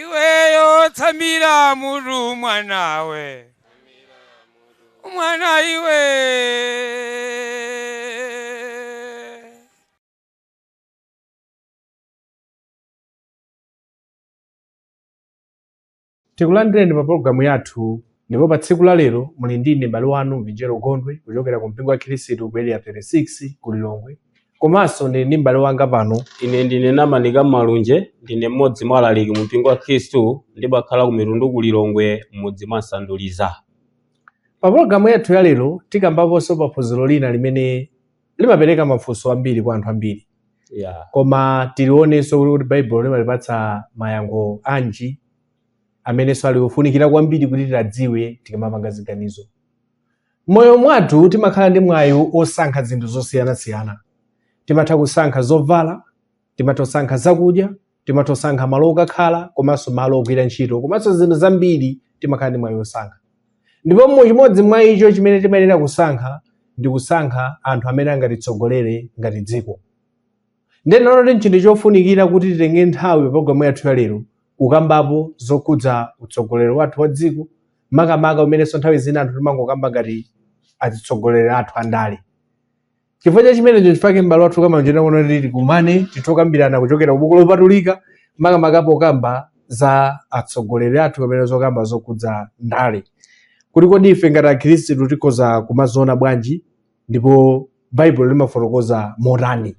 iweyo tsamira mutu mwanawe mwana iwe Tikulandireni pa pologalamu yathu ndipo pa tsiku la lero muli ndi ine m'bale wanu Mvinjero Gondwe kuchokera ku mpingo wa Khristu ku Area 36 ku Lilongwe komanso ndili ndi m'bale wanga pano Ine ndine Namanika Malunje, ndine mmodzi mwa alaliki mu mpingo wa Khristu ndimakhala ku Mitundu ku Lilongwe m'mudzi mwa Sanduliza. Pa pologalamu yathu ya lero tikambaponso pa phunziro lina limene limapereka mafunso ambiri kwa anthu ambiri yeah. koma tilionenso kuti baibulo limatipatsa mayankho anji amenenso ali ofunikira kwambiri kuti tiwadziwe tikamapanga ziganizo mmoyo mwathu timakhala ndi mwayi osankha zinthu zosiyanasiyana timatha kusankha zovala timatha kusankha zakudya timatha kusankha malo okakhala komanso malo ogwira ntchito komanso zinthu zambiri timakhala ndi mwayi wosankha ndipo mu chimodzi mwa icho chimene timayenera kusankha ndi kusankha anthu amene angatitsogolere ngati dziko nde ndaona kuti nchinthu chofunikira kuti titenge nthawi pa programu yathu ya lero kukambapo zokhudza utsogoleri wathu wa dziko makamaka umenenso nthawi zina anthu timangokamba ngati atsogoleri athu andale chifukwa cha chimenecho nchifake m'bale wathu a Malunje akuno kuti tikumane titokambirana kuchokera kubuku lopatulika makamaka pokamba za atsogoleri athu kapena zokamba zokhudza ndale kuti kodi ife ngati akhristu tikhoza kumaziona bwanji ndipo baibulo limafotokoza motani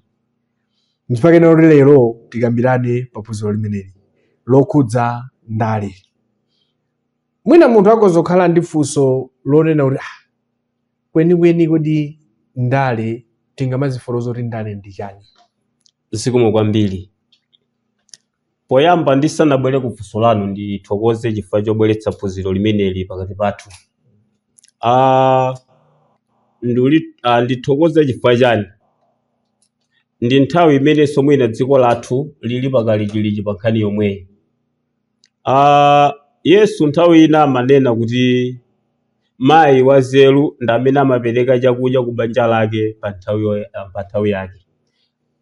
nchifake kuti lero tikambirane pa phunziro limeneli lokhudza ndale mwina munthu akhoza kukhala ndi funso lonena kuti "Ah, Kwenikweni, kodi ndale tingamazifotokoze kuti ndale ndi chani? Zikomo kwambiri. Poyamba ndisanabwere ku funso lanu ndithokoze chifukwa chobweretsa phunziro limeneli pakati pathu. Ah, ndili- ah, ndithokoze chifukwa chani? Ndi nthawi imenenso mwina dziko lathu lili pakalikiliki pa nkhani yomweyi. Aaa yesu nthawi ina amanena kuti mayi wazeru ndi amene amapereka chakudya ku banja lake pa nthawi yo- ah, pa nthawi yake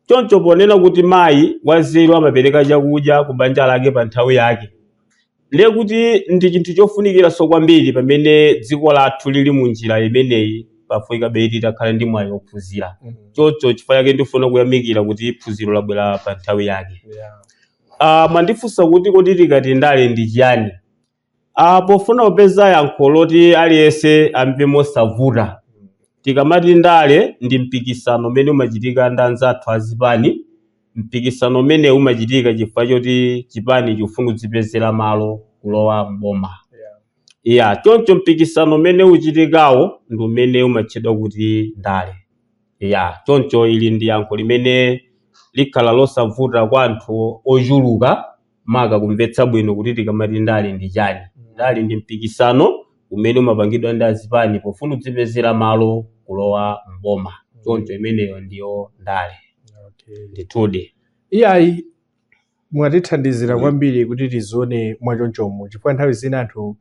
choncho ponena kuti mayi wazeru amapereka chakudya ku banja lake pa nthawi yake ndiye kuti ndi chinthu chofunikiranso kwambiri pamene dziko lathu lili mu njira imeneyi pafunikabe kuti tikhale ndi mwayi wophunzira choncho chifukwa chake ndifuna kuyamikira kuti phunziro labwera pa nthawi yake Yeah. Ah, mwandifunsa kuti kodi tikati ndale ndi chiyani? Ah, pofuna kupeza yankho loti aliyense amve mosavuta, tikamati ndale ndi mpikisano umene umachitika ndi anzathu a zipani. Mpikisano umenewu umachitika chifukwa choti chipani chifuna kudzipezera malo kulowa m'boma. Yeah. Iya, choncho mpikisano umene uchitikawo ndi umene umatchedwa kuti ndale. Ya, choncho ili ndi yankho limene likhala losavuta kwa anthu ochuluka maka kumvetsa bwino kuti tikamati ndale ndi chani. Ndale ndi mpikisano umene umapangidwa ndi azipani pofuna kudzipezera malo kulowa m'boma. Choncho imeneyo ndiyo ndale. Okay. Ndithudi. Iyayi, mwatithandizira kwambiri kuti tizione mwachonchomo chifukwa nthawi zina anthu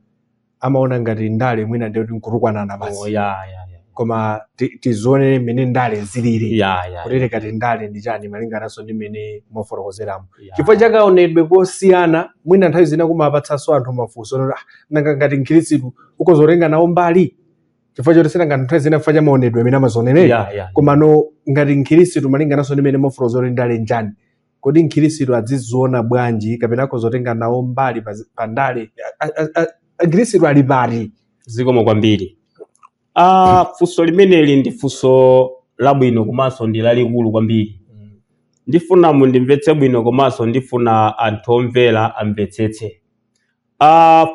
amaona ngati ndale mwina ndiye kuti nkutukwanana Oh, basi ya, ya, ya. koma ti- tizione mmene ndale zilili Ya, ya, kuti tikati ndale ndi chani malingananso ndi mmene mwafotokozeramo ya. chifukwa chakaonedwe kosiyana mwina nthawi zina kumapatsanso anthu mafunso onena kuti, "Ah, nanga ngati mkhristu akhoza kutenga nawo mbali chifukwa choti sina ngati nthawi zina chifukwa cha maonedwe amene amazionera Ya, ya. komano ngati mkhristu malingananso ndi mmene mwafotokozera kuti ndale njani Kodi Mkhirisitu adziziona bwanji kapena akhoza kutenga nawo mbali pa zi- pa ndale? A- a- a- Mkhirisitu ali pati? zikomo kwambiri ah, funso limeneli ndi funso labwino komanso ndi lalikulu kwambiri ndifuna mundimvetse bwino komanso ndifuna anthu omvera amvetsetse ah,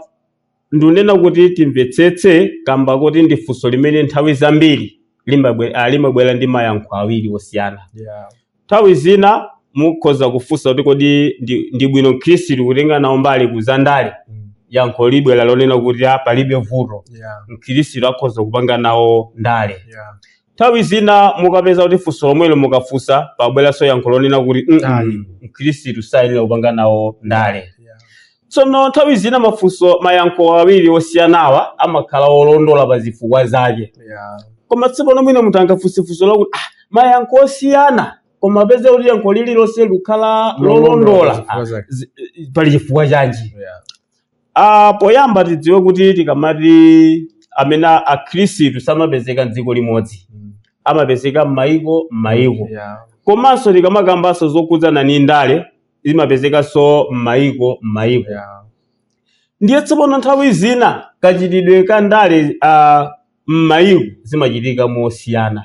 Ndikunena kuti timvetsetse kamba koti ndi funso limene nthawi zambiri limabwe- ah, limabwera ndi mayankho awiri osiyana. Yeah. Nthawi zina mukhoza kufunsa kuti kodi ndi, ndi bwino Mkhristu kutenga nawo mbali ku zandale? Mm. Yankho libwera lonena kuti ah, palibe vuto. Yeah. Mkhristu akhoza kupanga nawo ndale. Yeah. Nthawi zina mukapeza kuti funso lomwelo mukafunsa pabweranso yankho lonena kuti "Mm, Ayi. mm, mkhristu sayenera kupanga nawo ndale Yeah. tsono nthawi zina mafunso mayankho awiri osiyanawa amakhala olondola pa zifukwa zake Yeah. koma tsopano mwina munthu angafunse funso lakuti ah, mayankho osiyana koma apeze kuti yankho lililonse likukhala Lolondola lolondola zifukwa Ah, zake. zi- pali chifukwa chanji Yeah. Ah, poyamba tidziwe kuti tikamati amene a- akhristu samapezeka m'dziko limodzi Mm. amapezeka m'mayiko m'mayiko Yeah. komanso tikamakambanso zokhudzana ni ndale zimapezekanso m'mayiko m'mayiko Yeah. ndiye tsopano nthawi zina kachitidwe ka ndale ah, m'mayiko zimachitika mosiyana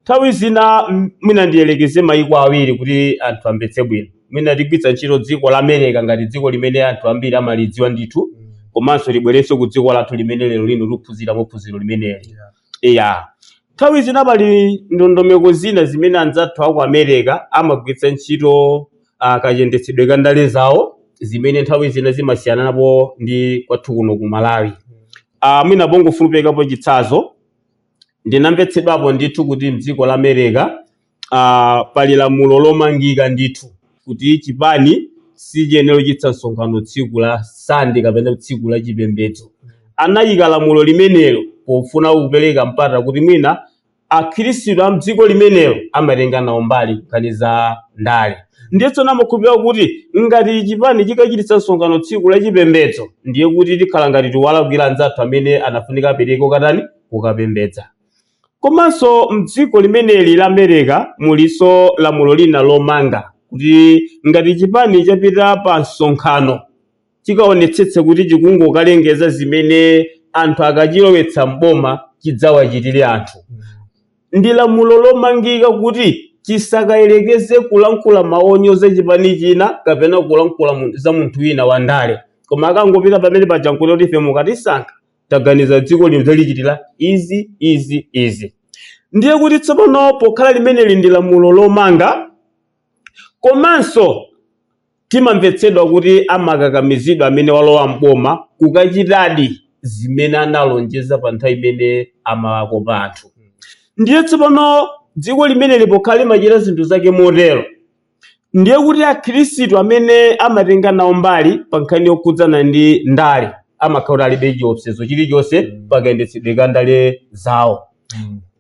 Nthawi zina m- mwina ndiyelekeze mayiko awiri kuti anthu amvetse bwino. Mwina tigwiritsa ntchito dziko la America ngati dziko limene anthu ambiri amalidziwa ndithu komanso libwerenso ku dziko lathu limene lero lino tikuphunzira phunziro limeneli. Iya. Nthawi zina pali ndondomeko zina zimene anzathu aku America amagwiritsa ntchito uh, kayendetsedwe ka ndale zawo zimene nthawi zina zimasiyanapo ndi kwathu kuno ku Malawi. Uh, mwina pongoperekapo chitsanzo Ndinamvetsedwapo ndithu kuti mdziko la Mereka ah, pali lamulo lomangika ndithu kuti chipani sichiyenera kuchititsa msonkhano tsiku la Sande kapena tsiku la chipembedzo. Anayika lamulo limenelo pofuna kupereka mpata kuti mwina akhristu a mdziko limenelo amatenga nawo mbali nkhani za ndale. Ndiye tsono amakhulupirira kuti ngati chipani chikachititsa msonkhano tsiku la chipembedzo ndiye kuti tikhala ngati tiwalakwira anzathu amene anafunika apereke katani kukapembedza. Komanso mdziko limeneli la Mereka mulinso lamulo lina lomanga kuti ngati chipani chapita pa msonkhano chikaonetsetse kuti chikungokalengeza zimene anthu akachilowetsa m'boma chidzawachitire anthu. Ndi lamulo lomangika kuti chisakayerekeze kulankhula mawu onyoza chipani china kapena kulankhula mu- za munthu wina wandale. Koma akangopita pamene paja nkungoti kuti ife mukatisankha taganiza dziko lino tidzalichitira izi izi izi ndiye kuti tsopano pokhala limeneli ndi lamulo lomanga komanso timamvetsedwa kuti amakakamizidwa amene walowa mboma kukachitadi zimene analonjeza pa nthawi imene amawakopa anthu ndiye tsopano dziko limeneli pokhala limachita zinthu zake motero ndiye kuti Akhristu amene amatenga nawo mbali pa nkhani yokhudzana ndi ndale amakhala kuti alibe chiopsezo chilichonse pa kayendetsedwe ka ndale zawo.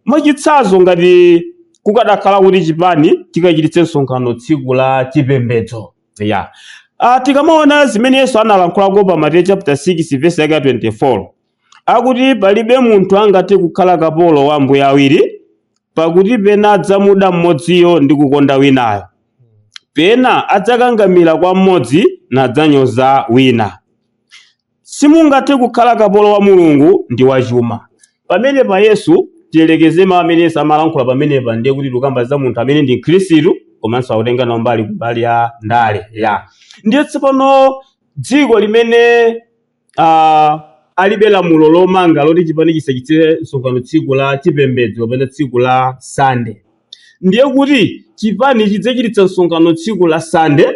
Mwachitsanzo ngati kukadakhala kuti chipani chikachititse msonkhano tsiku la chipembedzo ya Ah, tikamaona zimene Yesu analankhulako pa Mateyu chapter 6 verse yake ya 24 akuti palibe munthu angathe kukhala kapolo wa ambuye awiri, pakuti pena adzamuda mmodziyo ndi kukonda winayo, pena adzakangamira kwa mmodzi nadzanyoza wina. Simungathe kukhala kapolo wa Mulungu ndi wa chuma. Pamenepa Yesu tiyerekeze mawu amene Yesu amalankhula pamenepa ndiye kuti tikukamba za munthu amene ndi Mkhristu komanso akutenga nawo mbali kumbali ya ndale ya ndiye tsopano dziko limene uh, alibe lamulo lomanga loti chipani chisachititse msonkhano tsiku la chipembedzo kapena tsiku la sande ndiye kuti chipani chidzachititsa msonkhano tsiku la sande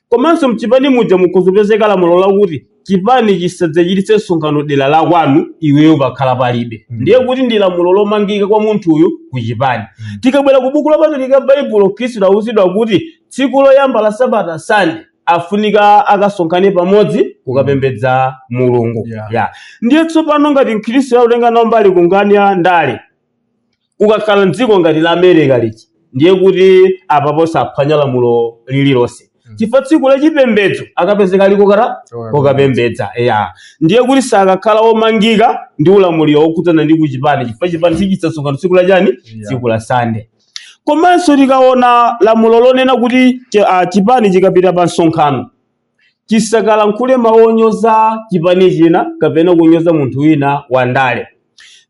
komanso mchipani muja mukhoza kupezeka lamulo lakuti chipani chisadzachititse msonkhano dera la kwanu iweyo pakhala palibe mm. ndiye kuti ndi lamulo lomangika kwa munthuyu ku chipani mm. tikabwera ku buku lopatulika baibulo mkhristu wauzidwa kuti tsiku loyamba la sabata sande afunika akasonkhane pamodzi kukapembedza mulungu Yeah. yeah. ndiye tsopano ngati mkhristu akutenga nawo mbali kunkhani ya ndale kukakhala mdziko ngati la america liji ndiye kuti apapo saphwanya lamulo lililonse chifukwa tsiku la chipembedzo akapezeka ali kuti Kokapembedza. kokapembedza ya ndiye kuti sakakhala omangika ndi ulamuliro wokhudzana ndi kuchipani chifukwa chipani sichichititsa msonkhano tsiku la chani Yeah. tsiku la sande Komanso tikaona lamulo lonena kuti chi- ah, chipani chikapita pa msonkhano chisakalankhule mawu onyoza chipani china kapena kunyoza munthu wina wa ndale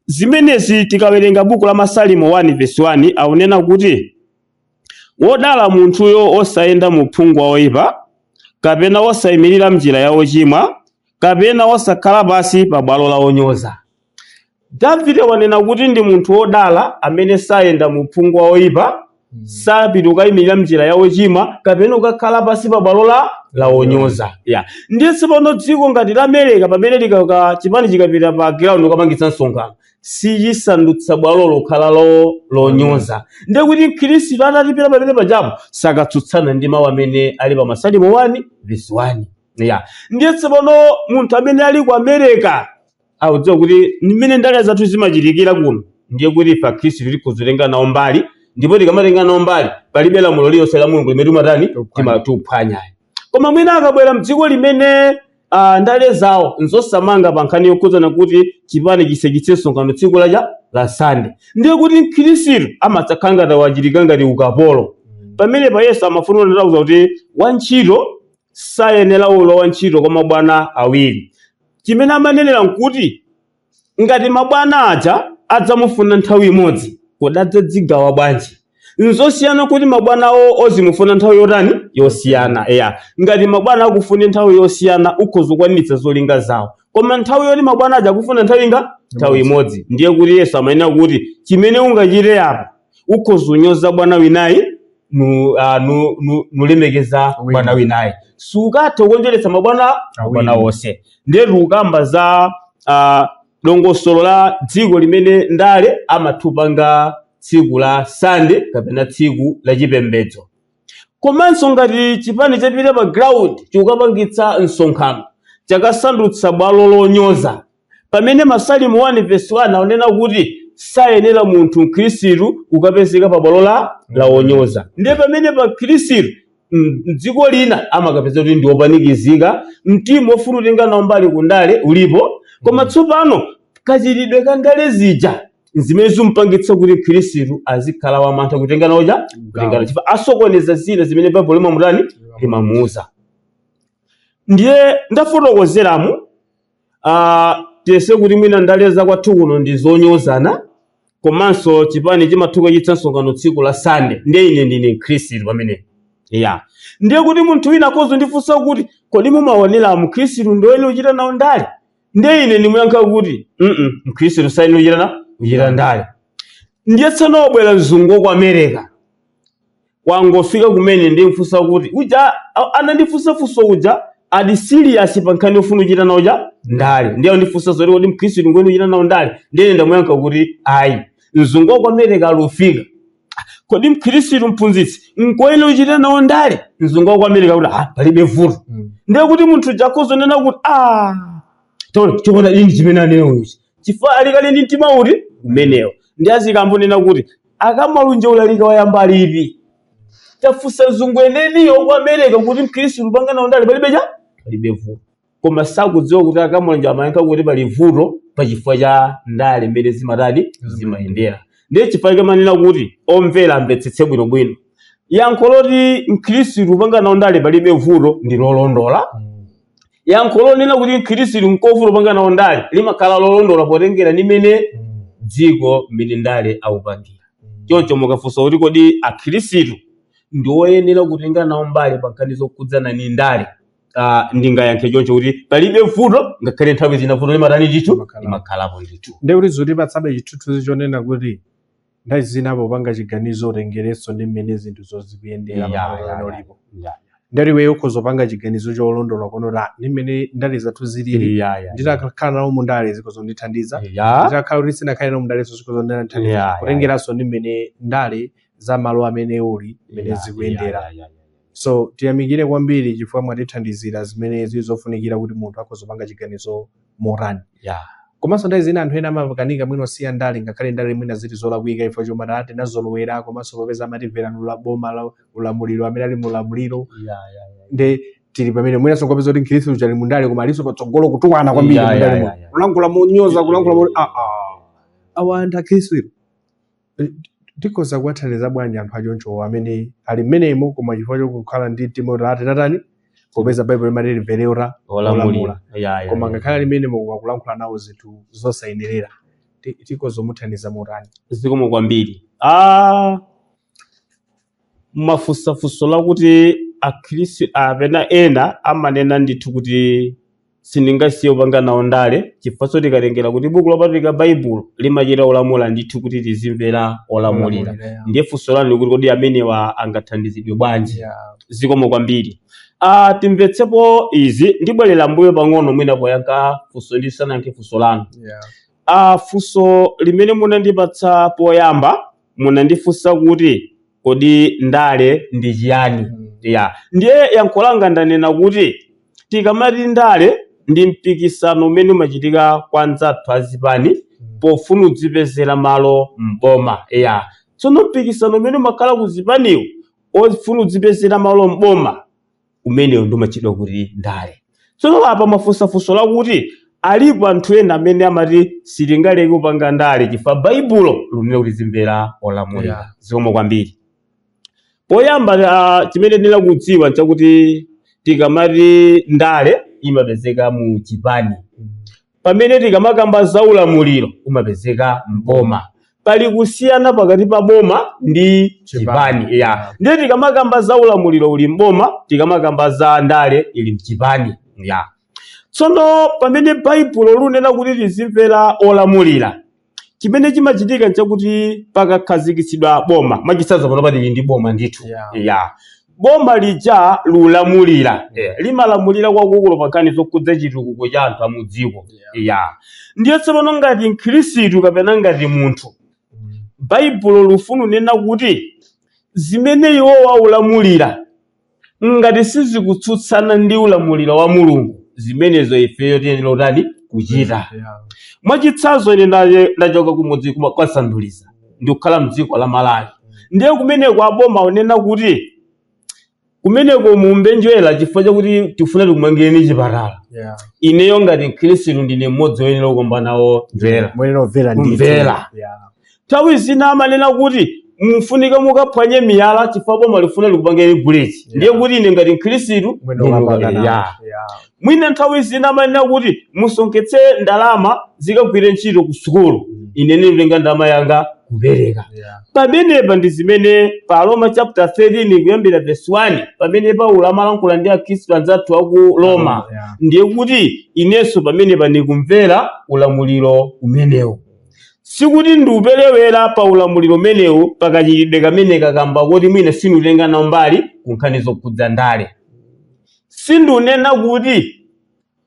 zimenezi tikawerenga buku la masalimo 1 vesi 1 akunena kuti wodala munthuyo osayenda mu uphungu wa oyipa kapena osayimirira mnjira ya ochimwa kapena osakhala pansi pa bwalo la onyoza Davide akunena kuti ndi munthu wodala amene sayenda mu uphungu wa oyipa, sapita kukayimirira m'njira ya ochimwa, kapena kukakhala pansi pa bwalo la la onyoza. Ya. Ndiye tsopano dziko ngati la America pamene likaka chipani chikapita pa ground kukapangitsa msonkhano sichimasandutsa bwalo lokhala lo lonyoza. Ndiye kuti Mkhristu atati apita pamene pajapo sakatsutsana ndi mawu amene ali pa Masalimo 1 verse 1. Ya. Ndiye tsopano munthu amene ali ku America akudziwa kuti mmene ndale zathu zimachitikira kuno ndiye kuti ife akhristu tikhoza kutenga nawo mbali ndipo tikamatenga nawo mbali palibe lamulo lililonse la mulungu limene timatani Tikuphwanya. timaphwanya ayi koma mwina akabwera mdziko limene ah, ndale zawo nzosamanga pa nkhani yokhudzana kuti chipani chisachititse msonkhano tsiku lacha la sande ndiye kuti mkhristu amadzakhala ngati wachitika ngati ukapolo pamene pa yesu amafuna kuti kuti wantchito sayenera kukhala wantchito kwa mabwana awiri. Chimene amanenera n'kuti ngati mabwana aja adzamufuna nthawi imodzi, kodi adzadzigawa bwanji? N'zosiyana kuti mabwanawo azimufuna nthawi yotani? Yosiyana. Eya, ngati mabwana akufune nthawi yosiyana ukhoza kukwaniritsa zolinga zawo. Koma nthawi yoti mabwana aja akufuna nthawi ingati? Nthawi Imodzi. imodzi. Ndiye kuti Yesu amanena kuti chimene ungachite apa ukhoza unyoza bwana winayi nu- ah, nu- nu- nulemekeza bwana winayi sukatha kukonjeretsa mabwana mabwana onse ndiye tikukamba za ah, dongosolo la dziko limene ndale amatha upanga tsiku la sande kapena tsiku la chipembedzo komanso ngati chipani chapita pa ground chokapangitsa msonkhano chakasandutsa bwalo lonyoza Pamene Masalimo 1 vesi 1 aunena kuti sayenera munthu mkhirisitu kukapezeka pa bwalo la la onyoza ndiye pamenepa mkhirisitu mdziko lina amakapezeka kuti ndi opanikizika mtima ofuna utenga nawo mbali kundale ulipo koma tsopano kachitidwe ka ndale zija zimene zimpangitsa kuti mkhirisitu azikhala wamantha kutenga nawo chifukwa asokoneza zina zimene baibulo limamutani limamuuza ndiye ndafotokozeramo uh, tiyense kuti mwina ndale za kwathu kuno ndi zonyozana komanso chipani chimatha ukachititsa msonkhano tsiku la sande ndiye ine ndine mkhristu pamenepa ndiye kuti munthu wina akhoza undifunsa kuti kodi mumaoneramo mkhristu ndi oyenera uchita nawo ndale ndiye ine ndimuyankha kuti mm mkhristu sayenera uchita na uchita ndale ndiye tsono wabwera mzungu wa ku america Wangofika kumene nde amfunsa kuti uja anandifunsa funso uja ali serious pa nkhani yofuna kuchita nawo cha ndale ndiye andifunsa zoti kodi mkhristu ngoyenera kuchita nawo ndale ndiye ndamuyankha kuti ayi mzungu wa ku america alufika kodi mkhristu mphunzitsi ngoyenera kuchita nawo ndale mzungu wa ku america kuti ah palibe vuto ndiye kuti munthu uja akhoza kunena kuti ah chona n'chiti chimene anena ichi chifukwa ali kale ndi mtima uti umenewo nde azikangonena kuti akamalunje ulalika wayamba lipi tafunsa mzungu weniweniyo ku america kuti mkhristu upanga nawo ndale palibe palibe vuto koma sakudziwa kuti akamalunje amayankha kuti pali vuto pa chifukwa cha ndale mmene zimatani zimayendera ndiye chifukwa chake ndimanena kuti omvera amvetsetse bwinobwino yankho loti mkhristu upanga nawo ndale palibe vuto ndi lolondola yankho lonena kuti mkhirisitu nkovuta kupanga nawo ndale limakhala lolondola potengera ndi mmene dziko mmene ndale akupangira chomcho mukafunsa kuti kodi akhirisitu ndi oyenera kutenga nawo mbali pa nkhani zokhudzana ndi ndale ah, ndingayankhe choncho kuti palibe vuto ngakhale nthawi zina vuto limatani ndithu limakhalapo ndithu nde kuti zikutipatsabe chithunzi chonena kuti nthawi zina popanga chiganizo utengerenso ndi mmene zinthuzo zikuyendera Yeah, pamalo yeah, amene yeah. ulipo Yeah. nde iweyo ukhoza kupanga chiganizo cholondola kuona kuti "Ah, ndi mmene ndale zathu zilili Yeah, yeah. nditakhala nawo mu ndale zikhoza kundithandiza Yeah. nditakhala kuti sindikhala nawo mu ndale zikhoza Yeah, kundithandiza yeah, kutengeranso ndi mmene ndale za malo amene uli mmene Yeah, zikuyendera yeah, yeah, yeah, yeah. so tiyamikire kwambiri chifukwa mwatithandizira zimene zili zofunikira kuti munthu akhoza kupanga chiganizo motani yeah. komanso nthawi zina anthu ena amakanika mwina kusiya ndale ngakhale ndale mwina zili zolakwika chifukwa choti ta- tinazolowera komanso popeza amati mverani la boma la ulamuliro amene ali mulamuliro Yeah, yeah, yeah. nde tili pamene mwinanso nkupeza kuti mkhristu ali mundale koma alinso patsogolo kutukwana kwambiri Yeah, yeah, mundale yeah, muno. yeah. kulankhula monyoza kulankhula mo ah ah awa anthu akhristu ilo Tikhoza kuwathandiza bwanji anthu achoncho amene ali mmenemo koma chifukwa chokukhala ndi mtima kuti ati tatani popeza Baibulo limati timvere ola olamula koma ngakhale ali mmenemo koma kulankhula nawo zinthu zosayenerera tikhoza kumuthandiza motani? Zikomo kwambiri. Ah! Mwafunsa funso lakuti akhristu apena ena amanena ndithu kuti sindingasiye kupanga nawo ndale chifukwanso tikatengera kuti buku lopatulika baibulo limachita kulamula ndithu kuti tizimvera olamulira Olamulira, yeah. ndiye funso lanu likuti kodi amenewa angathandizidwe bwanji Yeah. zikomo kwambiri ah timvetsepo izi ndibwerera mbuyo pang'ono mwina poyankha funso ndisanayankhe funso lanu Yeah. ah funso limene munandipatsa poyamba munandifunsa kuti kodi ndale ndi chiyani ya ndiye yankho langa ndanena kuti tikamati ndale ndi mpikisano umene umachitika kwa anzathu azipani pofuna kudzipezera malo m'boma ya tsono mpikisano umene umakhala kuzipaniwo ofuna kudzipezera malo m'boma umenewu ndio umatchedwa kuti ndale tsono apa mwafunsa funso lakuti alipo anthu ena amene amati sitingaleke kupanga ndale chifukwa baibulo likunena kuti tizimvera olamulira Yeah. zikomo kwambiri poyamba ah, chimene tiyenera kudziwa nchakuti tikamati ndale imapezeka mu chipani pamene tikamakamba za ulamuliro umapezeka mboma pali kusiyana pakati pa boma ndi chipani Chipani. ya ndiye tikamakamba za ulamuliro uli mboma tikamakamba za ndale ili mchipani ya tsono pamene baibulo lunena kuti tizimvera olamulira chimene chimachitika nchakuti pakakhazikitsidwa boma mwachitsanzo panopa tili ndi boma ndithu Yeah. ya boma lija lulamulira Eh, limalamulira kwakukulu pankhani zokhudza chitukuko cha anthu amudziko Yeah. ya ndiye tsopano ngati mkhristu kapena ngati munthu baibulo lufuna kunena kuti zimene iwo akulamulira Ngati sizikutsutsana ndi ulamuliro wa Mulungu, zimenezo ifeyo tiyenera kutani? Kuchita. Mwachitsanzo, ine ndaye- ndachoka kumudzi kuma- kwa Sanduliza ndikukhala mdziko la Malawi, ndiye kumeneko aboma akunena kuti kumeneko muumbe njerwa chifukwa chakuti tifuna tikumangireni chipatala. Ineyo ngati Mkhristu ndine mmodzi woyenera kukaumba nawo njerwa. Muyenera kumvera ndithu. Kumvera. Yeah. Nthawi zina amanena kuti mufunika mukaphwanye miyala chifukwa boma lifuna likupangireni buliji yeah. ndiye kuti ine ngati mkhristu mwina nthawi zina amanena kuti musonkhetse ndalama zikagwire ntchito ku sukulu mm. ine nditenga ndalama yanga kupereka yeah. pamenepa ndi zimene pa Roma chapter 13 kuyambira verse 1 pamene Paulo amalankhula ndi akhristu anzathu aku Roma yeah. ndiye kuti inenso pamenepa ndikumvera ulamuliro umenewu Sikuti ndiuperewera pa ulamuliro umenewu pa kachitidwe kameneka kamba koti mwina sindiutenga nawo mbali ku nkhani zokhudza ndale. Sindunena kuti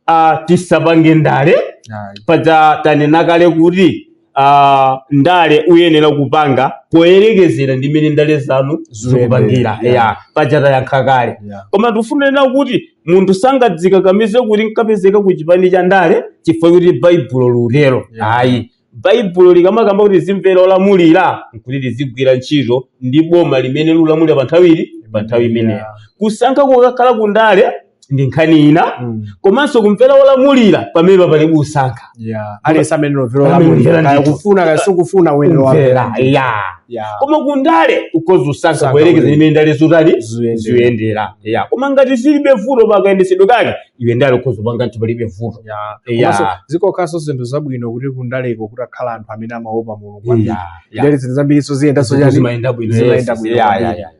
ah, tisapange ndale Ayi. paja tanena kale kuti ah, ndale uyenera kupanga poyerekezera ndi mmene ndale zanu Zikuyendera. zikupangira Yeah. ya paja tayankha kale Yeah. koma tifuna kunena kuti munthu sangadzikakamize kuti nkapezeka ku chipani cha ndale chifukwa kuti baibulo liutero Yeah. ayi baibulo likamakamba kuti tizimvera olamulira nkuti tizigwira ntchito ndi boma limene likulamulira pa nthawi ili pa nthawi imeneyo Yeah. kusankha kukakhala ku ndale ndi nkhani ina Mm. komanso kumvera olamulira pamene pali kusankha yeah aliyense amene lovero Amene olamulira lovero kaya ndithu. kufuna kaya sikufuna uyenera Kumvera, wamvera yeah. yeah koma kundale ukhoza usankha Usankha kuyerekeza kuti- mmene ndale zotani Ziyendera. ziyendera yeah. koma ngati zilibe vuto pakayendetsedwe kake iwe ndale ukhoza upanga ndithu palibe vuto yeah Yeah. komanso zikakhalanso zinthu zabwino kuti kundaleko kutakhala anthu amene amaopa mulungu kwambiri Yeah, yeah. ndale zinthu zambiriso ziyendaso Zinthu chani zimayenda bwino, zimayenda yes, bwino yeah, kwambiri. yeah, yeah.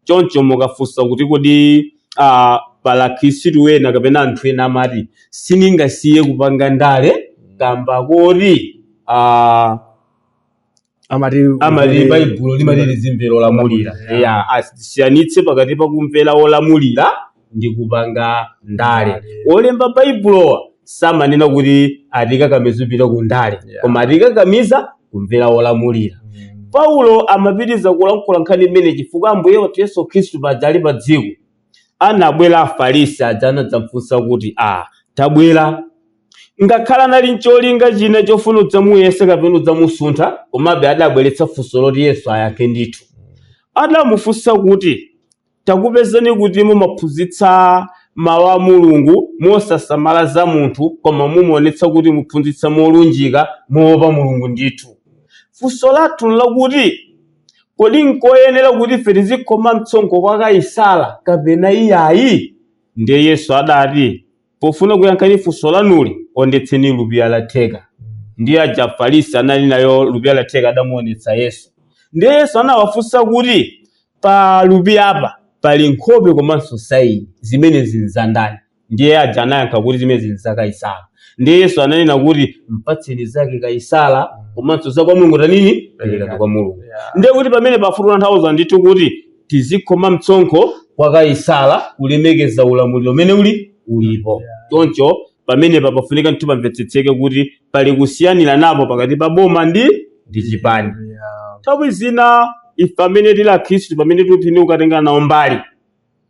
choncho mukafunsa kuti kodi ah, pali akhristu ena kapena anthu ena amati sindingasiye kupanga ndale kamba koti ah, amati amati baibulo limati tizimvera olamulira Yeah. ya asiyanitse pakati pa kumvera olamulira ndi kupanga ndale olemba baibulowa samanena kuti atikakamiza kupita ku ndale Yeah. koma atikakamiza kumvera olamulira paulo amapitiriza kulankhula nkhani imene chifukwa ambuye athu yesu khristu paja ali pa dziko anabwera afarisi aja anadzamfunsa kuti a tabwera ngakhale anali ncholinga china chofuna udzamuyesa kapena udzamusuntha komabe adabweretsa funso loti yesu ayankhe ndithu adamufunsa kuti Takupezani kuti mumaphunzitsa Mau a Mulungu mosasamala za munthu koma mumaonetsa kuti muphunzitsa molunjika, moopa Mulungu ndithu. Funso lathu nlakuti, Kodi nkoyenera kuti ife tizikhoma msonkho kwa Kaisara kapena iyayi? Ndiye Yesu adati. pofuna kuyankhani funso lanuli onetseni lupiya la theka ndiye aja afarisi anali nayo lupiya la theka adamuonetsa yesu ndiye yesu anawafunsa kuti pa lupiyapa pali nkhope komanso saini zimenezi nzandani ndiye aja anayankha kuti zimenezi nza kaisala ndiye yesu ananena kuti mpatseni zake kaisala komanso za kwa mulungu tanini perekani kwa mulungu Yeah. ndiye kuti pamenepa akutanthauza ndithu kuti tizikhoma mtsonkho kwa Kaisara kulemekeza ulamuliro umene uli ulipo. Choncho pamenepa pafunika ndithu pamvetsetseke kuti pali kusiyaniranapo pakati pa boma ndi ndi chipani. Nthawi zina ife amene tili Akhristu pamene tikuti kukatenga nawo mbali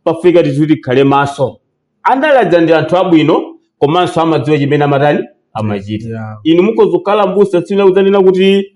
pafunika ndithu tikhale maso. Andale aja ndi anthu abwino komanso amadziwa chimene amatani amachita. Yeah. Inu mukhoza kukhala mbusa tsiku lina kudzanena kuti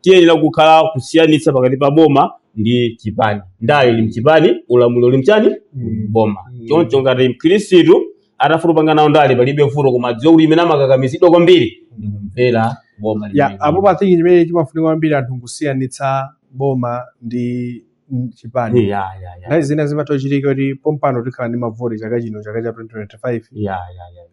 tiyenera kukhala kusiyanitsa pakati pa boma ndi chipani ndale ili mchipani ulamuliro uli mchani Mm. boma Mm. choncho ngati mkhristu atafuna kupanga nawo ndale palibe vuto koma adziwe kuti chimene amakakamizidwa kwambiri ndi kumvera boma ya limene. apo pa I think chimene chimafunika kwambiri anthu nkusiyanitsa boma ndi mm, chipani Ya, ya, ya. nthawi zina zimatha kuchitika kuti pompano tikhala ndi mavoti chaka chino chaka cha 2025 Ya, ya, ya.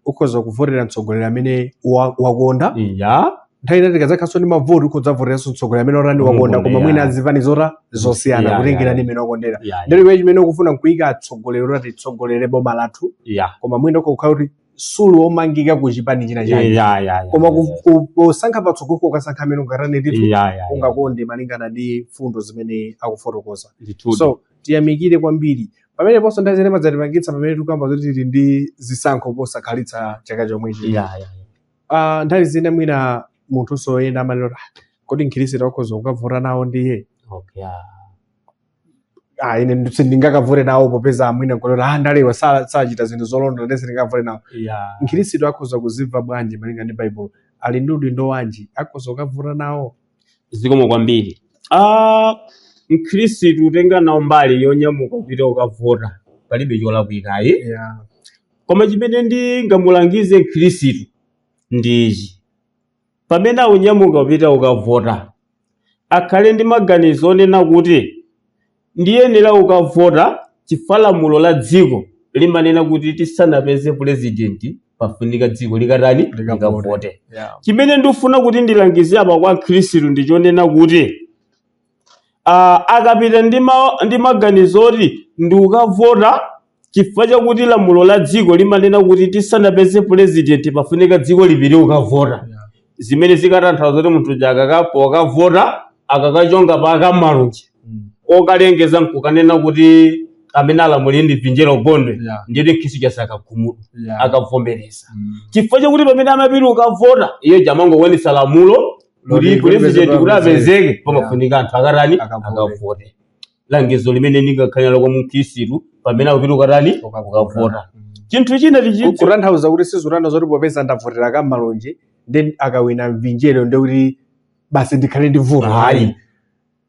ukhoza kuvotera mtsogoleri amene wa- wakonda ya nthawi ina tikadzakhalanso ndi mavoti ukhoza kuvoteranso mtsogoleri amene watani wakonda Wakonda, koma mwina yeah. azipani zota zosiyana Yeah, kutengera yeah. ndi mmene wakondera ya ya, ndiye iwe chimene ukufuna nkuyika atsogoleri oti atitsogolere boma lathu ya koma mwina ukakhala kuti suli omangika ku chipani china ya chake ya ya koma ku- ku- kusankha patsogolo ukasankha amene ungatani ndithu ya ya ungakonde malingana ndi mfundo zimene akufotokoza ndithu so tiyamikire kwambiri pameneponso nthawi zina madzatipangitsa pamene tikuyamba zoti tili ndi zisankho posakhalitsa chaka chomwechi yeah, yeah. Ah, nthawi zina mwina munthu soyenda amanena kuti "Ah, kodi mkhristu akhoza kukavota nawo ndiye okay yeah. ah, ine ndi- sindingakavote nawo popeza mwina nkoloti ah, andalewa sa- sachita zinthu zolondola ndiye sindingavote nawo yeah. mkhristu akhoza kuzimva bwanji malinga ndi baibulo ali ndi udindo wanji akhoza kukavota nawo zikomo kwambiri ah mkhristu utenga nawo mbali yonyamuka kupita ukavota palibe cholakwika ayi yeah. koma chimene ndingamulangize mkhristu ndi ichi pamene akunyamuka kupita ukavota akhale ndi maganizo onena kuti Ndiyenera kukavota chifukwa lamulo la dziko limanena kuti tisanapeze pulezidenti pafunika dziko likatani? Likavote. Yeah. Chimene ndikufuna kuti ndilangize apa kwa Mkhristu ndi chonena kuti ah, akapita ndi ma- ndi maganizo oti ndikukavota Chifukwa chakuti lamulo la dziko limanena kuti tisanapeze pulezidenti pafunika dziko lipite kukavota, Yeah. zimene zikatanthauza kuti munthu uja akaka- pokavota akakachonga pa akamalunji Mm. okalengeza nkukanena kuti amene alamulire ndi vinjero gondwe Yeah. ndiyeti mkhristu uja sakakhumudwa Yeah. akavomereza Mm. chifukwa chakuti pamene amapita ukavota iye uja amangokwanitsa lamulo Loti kuti pulezidenti kuti apezeke pamafunika anthu akatani Akavote. akavote langizo limene ndingakhale nalo kwa mkhristu pamene akupita kukatani kukavota chinthu china tichitse kutanthauza kuti sizikutanthauza zoti popeza ndavotera kamalonje ndi akawina vinjero ndiye kuti basi ndikhale ndi vuto ayi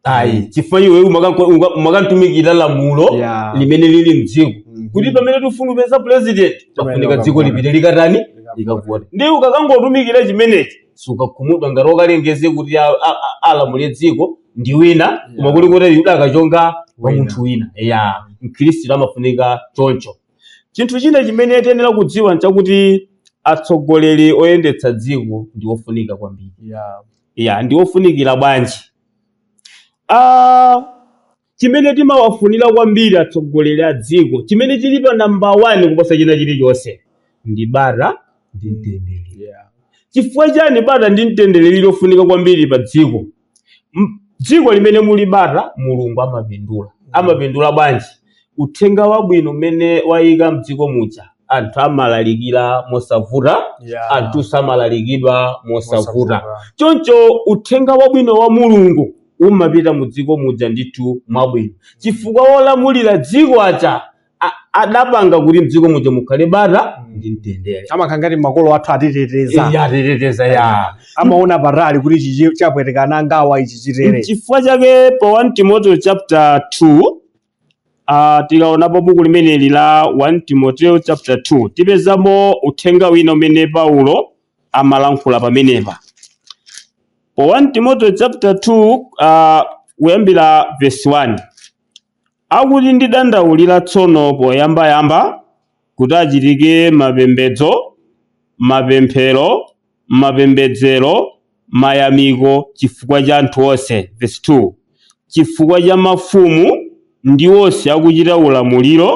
ayi chifukwa iwe umakanko- unga- umakangotumikira lamulo Yeah. limene lili mdziko Mhm. kuti pamene tifuna kupeza president pafunika Timayenera dziko kukavota. lipite likatani likavote ndiye ukakangotumikira chimenechi sukakhumudwa ngati akalengeze kuti a- a- a- alamule dziko ndi wina koma kuli kuti iwe udakachonga kwa Wina. munthu wina ya mkhristu amafunika choncho chinthu china chimene tiyenera kudziwa nchakuti atsogoleri oyendetsa dziko ndi ofunika kwambiri ya ya ndi ofunikira bwanji ah chimene timawafunira kwambiri atsogoleri a dziko chimene chili pa namba 1 kuposa china chilichonse ndi bata ndi mtendere ya chifukwa chani bata ndi mtendere lili lofunika kwambiri pa dziko M- dziko limene muli bata mulungu amapindula amapindula bwanji uthenga wabwino umene wayika mdziko muja anthu amalalikira mosavuta Yeah. anthunso amalalikidwa mosavuta choncho uthenga wabwino wa mulungu umapita mu dziko muja ndithu mwabwino chifukwa wolamulira dziko aja a- adapanga kuti mdziko muja mukhale bata ndi mtendere amakhala ngati makolo athu atiteteza Iye atiteteza ya amaona patali kuti ichi chapweteka ana angawa ichi chitere nchifukwa chake pa 1 timoteo chapter 2 uh, tikaonapo buku limeneli la 1 timoteo chapter 2 tipezamo uthenga wina umene paulo amalankhula pamenepa pa 1 timoteo chapter 2 uh, kuyambira verse 1 Akuti ndidandaulira tsono poyambayamba kuti achitike mapembedzo, mapemphero, mapembedzero, mayamiko chifukwa cha anthu onse, verse 2, chifukwa cha mafumu ndi onse akuchita ulamuliro,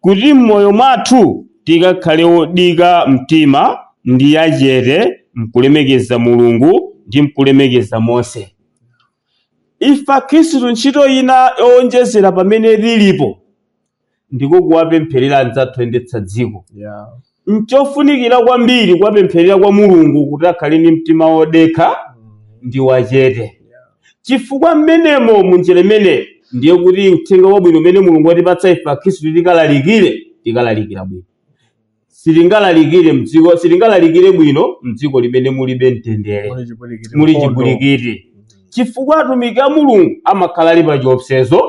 kuti m'moyo mwathu tikakhale odika mtima ndi achete m'kulemekeza Mulungu ndi m'kulemekeza monse. Ife Akhristu ntchito ina yowonjezera pamene tilipo ndiko kuwapempherera anzathu oyendetsa dziko. Yeah. Nchofunikira kwambiri kuwapempherera kwa Mulungu kuti akhale ndi mtima wodekha ndi wachete. Chifukwa mmenemo munjira imeneyo ndiye kuti uthenga wabwino umene Mulungu watipatsa ife Akhristu tikalalikire, tikalalikira bwino. sitingalalikire mdziko sitingalalikire bwino mdziko limene mulibe mtendere Muli chipwirikiti. muli Mkondo. chipwirikiti chifukwa atumiki a mulungu amakhala ali pa chiopsezo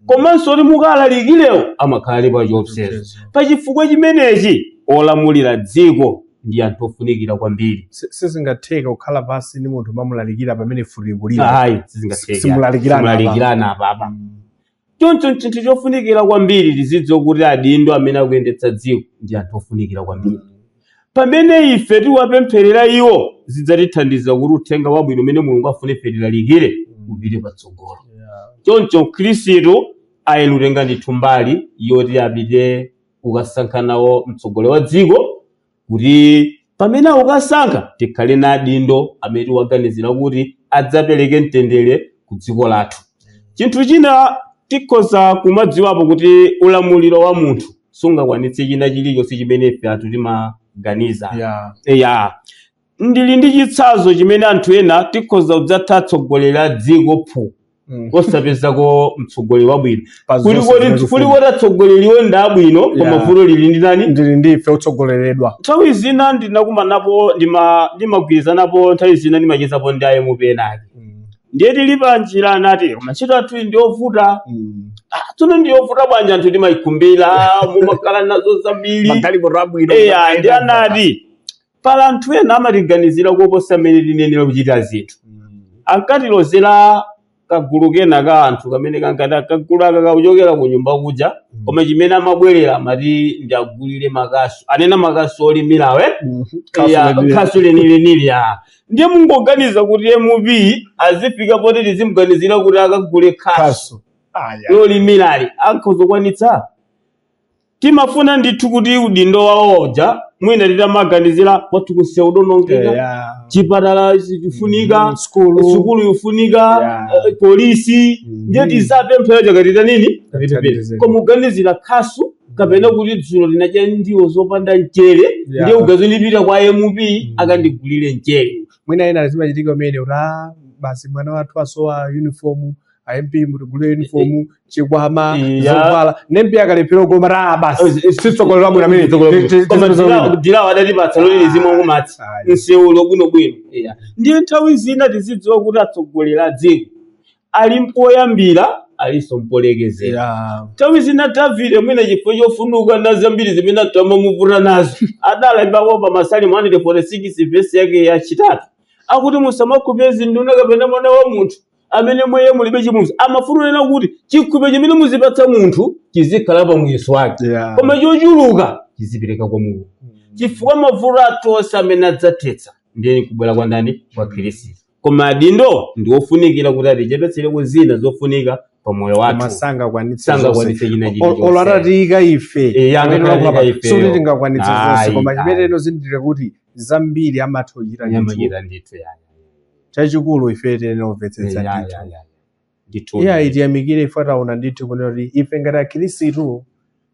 komanso kuti mukalalikirewo amakhala ali pa chiopsezo Chiopsezo. pa chifukwa chimenechi olamulira dziko ndi anthu ofunikira kwambiri Si- sizingatheke kukhala pansi ndi munthu mumamulalikira pamene mfuti ikulira ayi sizingatheke Simulalikirana apa. simulalikirana apapa Choncho n'chinthu chofunikira kwambiri tizidziwa kuti adindo amene akuyendetsa dziko ndi anthu ofunikira kwambiri. Pamene ife tiwapempherera iwo, zidzatithandiza kuti uthenga wabwino umene Mulungu afuna ife tilalikire upite patsogolo. Choncho Mkhristu ayenera kutenga ndithu mbali yoti apite kukasankha nawo mtsogoleri wa dziko kuti pamene akukasankha tikhale na adindo amene tiwaganizira kuti adzapereke mtendere ku dziko lathu chinthu china tikhoza kumadziwapo kuti ulamuliro wa munthu sungakwanitse china chilichonse chimene ife anthu timaganiza ya ya ndili ndi chitsanzo chimene anthu ena tikhoza kudzatha atsogoleri a dziko phu Mm. osapezako mtsogoleri wabwino Pa Kuli zonse koti- zimene kuli zifuna. koti atsogoleriwo ndi abwino koma Yeah. vuto lili ndi ndani lili ndi ife otsogoleredwa nthawi zina ndinakumanapo ndima- ndimagwirizanapo nthawi zina ndimachezapo ndi a MP enaake ndiye tili pa njira anati koma ntchito yathuyi ndi yovuta Ah, tsono ndi yovuta bwanji anthu timayikumbira mumakhala nazo zambiri magalimoto abwino eya ndi anati Pali anthu ena amatiganizira kuposa mmene tiyenera kuchitira zinthu. Ankatilozera kagulu kena ka anthu kamene kankati ah kagulu aka kakuchokera ku nyumba kuja koma chimene amabwerera amati ndiwagulire makasu anena makasu olimirawe ya khasu lenilenili ya ndiye mungoganiza kuti mp azifika poti tizimuganizira kuti akagule khasu khasu eya lolimirali akhoza kukwanitsa Timafuna ndithu kuti udindo wawo uja mwina titamaganizira kwathu nsewu udaonongeka Yeah. chipatala chifunika Mm, sukulu. sukulu yofunika Yeah. eh, polisi Mhm. ndiye tizapempha chakatita nini Katithandizeni. koma uganizira khasu kapena kuti dzulo tinadya ndiwo zopanda mchere Yeah. ndiye ndizipita kwa mp akandigulire mchere mwina ena zimachitika umene kuti "Ah, basi mwana wathu asowa uniform a MP mutigulire uniform chikwama Eh, ya. zovala ne MP akalephera komano basi si tsogolo labwino amene atilawo adatipatsa lole zimwe kumati Ayi. msewu uli bwinobwino Eya. ndiye nthawi zina tizidziwa kuti atsogoleri a dziko ali mpoyambira alinso mpolekezera Yeah. nthawi zina davide mwina chifukwa chofunuka na zambiri zimene atamamuvuta nazo adalembapo pa masalimo 146 vesi yake yachitatu akuti musamakhulupirire zinduna kapena mwana wa munthu amene mwa iye mulibe chipulumutso amafuna kunena kuti chikhulupiriro chimene muzipatsa munthu chizikhala pa muyeso wake Yeah. koma chochuluka chizipereka kwa mulungu chifukwa mavuto athu onse amene adzathetsa ndiye kubwera kwa ndani kwa khristu koma adindo ndi ofunikira kuti atichepetsereko zina zofunika pa moyo wathu koma sangakwanitse Sangakwanitse zonse. china Ol- chilichonse. olo atatiyika ife Eh, amene angakhale wakula pa- ifeyo. sikuti tingakwanitse zonse Ayi, koma ayi. chimene inu zindikirani kuti zambiri amatha kuchita nyama ndithu. chita ndithu yani chachikulu ife tiyenera kumvetsetsa Eh, ya, ndithu ya, ya, ya. Ndithu. iyayi tiyamikire ife taona ndithu kunena kuti ife ngati akhirisitu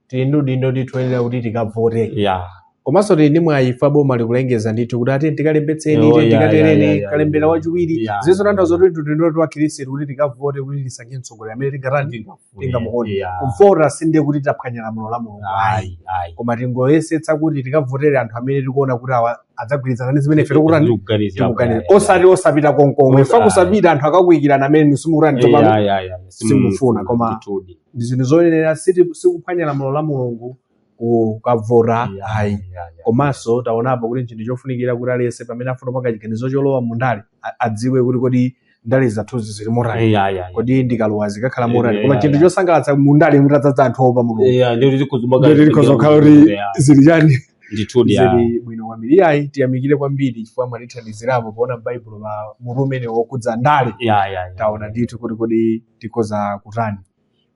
tili ndi udindo ndithu oyenera kuti tikavote Ya. komanso tili ndi mwayi ife boma likulengeza ndithu kuti ati tikalembetseni Oh, ite yeah, yeah, tikatereni yeah, yeah, kalembera yeah. wachiwiri Yeah. zikusonyeza zoti ndi udindo wathu akhirisitu kuti tikavote kuti tisankhe mtsogoleri amene tingatani tingamuone Ya. kuvota sindiye kuti taphwanya lamulo la mulungu ayi Ayi, ayi. koma tingoyesetsa kuti tikavotere anthu amene tikuona kuti awa adzagwirizana ndi zimene ife tikutani Tikuganizira tikuganiza kuti- osati osapita konkomwe Osa- ife kusapita anthu akakuikirana amene simukutani Eh, tsopano ayi, ayi, ayi, simukufuna, koma- ndithudi. ndi zinthu zoyenera siti- sikuphwanya lamulo la mulungu kukavota Eh, ayi ayi, ayi. komanso taonapo kuti ndi chinthu chofunikira kuti aliyense pamene afuna kupanga chiganizo cholowa mundale a- adziwe kuti kodi ndale zathuzi zili motani ya ya kodi ndikalowa zikakhala motani koma Yeah, chinthu yeah. chosangalatsa mu ndale mutadzadza anthu opa mulungu ya ndiye kuti zikhoza Ndiye kuti zikhoza kukhala kuti zili chani ndithudi ya zili bwino kwambiri iyayi tiyamikire kwambiri chifukwa mwatithandizirapo poona m'baibulo pa mutu umenewu wokudza ndale ya ya ya taona ndithu kuti kodi tikhoza kutani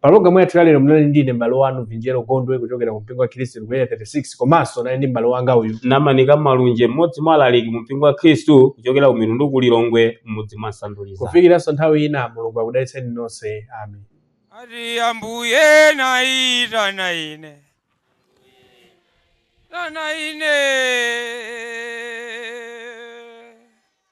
Pa pologamu yathu ya lero munali ndi ine m'bale wanu Vinjero Gondwe kuchokera ku mpingo wa Khristu ku area 36 komanso ndinali ndi m'bale wanga uyu namanika malunje mmodzi mwa alaliki mu mpingo wa khristu kuchokera ku mitundu ku lilongwe mmudzi mwa nsanduliza kufikiranso nthawi ina mulungu akudalitseni nonse amen Ati ambuye naita na ine na ine